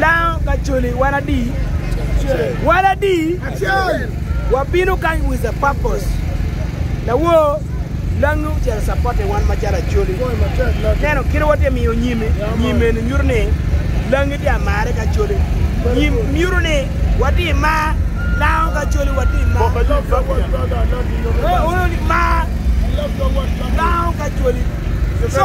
Lango kacoli wan adi? Wan adi? Wabino kany with a purpose. Lawor langi ocito support wan macalo acoli. Neno kit watye miyo nyimi, nyim eni nyuto ni langi tye amare kacoli. Nyim nyuto ni watye mar lango kacoli watye mar. Mar lango kacoli. So,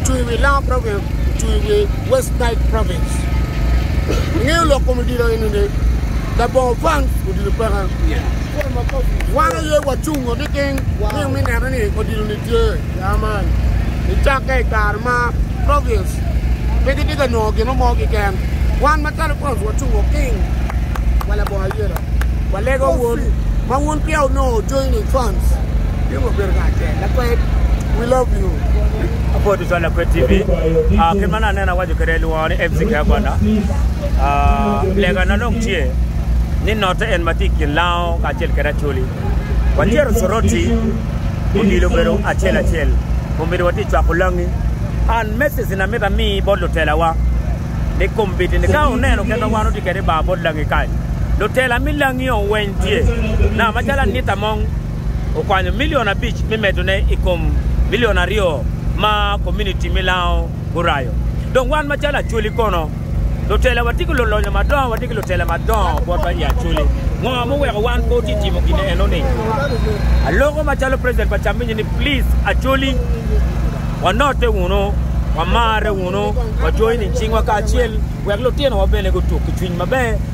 ocung i wi Langa Province ocung i wi West Nile Province. Ingeyo lok kom odilo eni ni labongo fans odilo peke. Wan aye wacung wa niting ni me neno ni odilo ni tye. Amen. Icakke i kare ma province pe gitye ka nongo gin mo kiken. Wan macalo fans wacung wa king wa labongo ayelo. Walego wun ma wun peya onongo joining fans. Pingo obedo kacel. Lakwed we love you. Apor tutwal Lakwed TV. Ah, kit ma aneno awaco kwede lwongo ni MC Kea Gwanda. Ah, lega na dong tye ni note en ma tye i kin lango kacel kede Acholi. Watyero Soroti odilo obedo acel acel. Kombeddi watye i cwako langi. An message na mita mi bot lutelawa ni kombeddi ni ka oneno kit ma wan otye kede i bar bot langi kany, lutela mi langi oweny tye na macalo anita mong okwanyo milion abic me medone i kom milion aryo ma komuniti me Lango gurayo. Dong wan macalo Acholi kono? Lutela watye ki lulonyo madongo, watye ki lutela madongo botwa i Acholi. Ngo ma oweko wan pe wati timo gin eno-ni? Aloko macalo President pa Chamminyi ni please Acholi, wanote wunu, wamarre wunu, wajoine cingwa kacel wek lutinowa bene gutuk ki cwiny maber.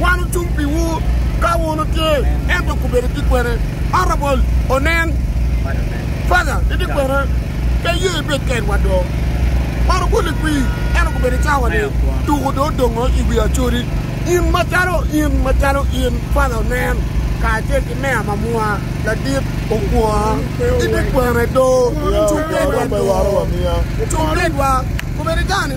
Wan ocung piwu ka wun wutye, ento kubedo ki kwene. Arabol onen, Father, itye kwene? Pe iye ibed kedwa do. Wan ogulli kwi, ento kubedo cawa-ni, tuku dong odongo i wi acodi. In macalo in, macalo in, Father onen, kacel ki meya ma mwa, ladit okwonga, itye kwene do? Cung kedwa do. Cung kedwa. Kubedo cawa-ni.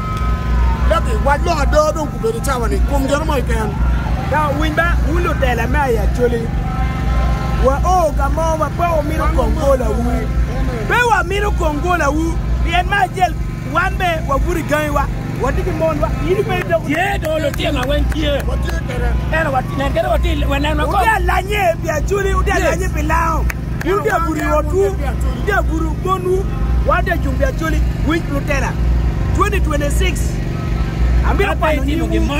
Leb i wac lok ada dong gubedo i cawa ni kum geno mo keken. Ka winy ba wun lutela me ayi Acholi, wa o ka mo ma pe wu mino kong gola wu. Pe wa mino kong gola wu, pien ma acel wan be wa buto i gangi wa, wa tye ki mon wa. Ini pe idoko. Tye do lutino ma weng tye. Wa tye kede. Eno wa nen kede wa tye wa nen wa kong. Wutye alanye pi Acholi, wutye alanye pi lango. Wun de abuto i otwu, de abuto bonwu, wan de cung pi acoli. Winj lutela 2026, amito kwano nyingwu,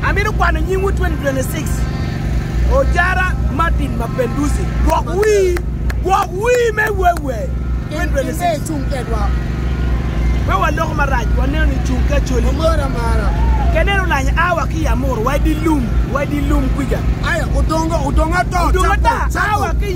amito kwano nyingwu 2026. Ojara Martin Mapenduzi, gwok wii, gwok wii me wewe 2026. Cung kedwa. Pe waloko marac, waneno ni cung ki acoli. Omoro amara. Ke neno lanya awa ki yamur, wa idilum, wa idilum kwica. Aya, odongo, odongo ata, Odongo ata, awa ki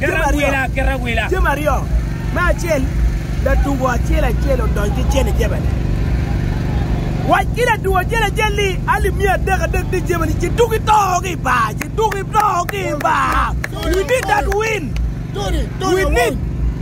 Jami aryo, jami aryo, me acel latugo acel acel odony ki cene jebene. Wac ki latugo acel acel ni alip miya adek adek ni jebene ci tuki to ki i bar, ci tuki to ki i bar. We need that win. We need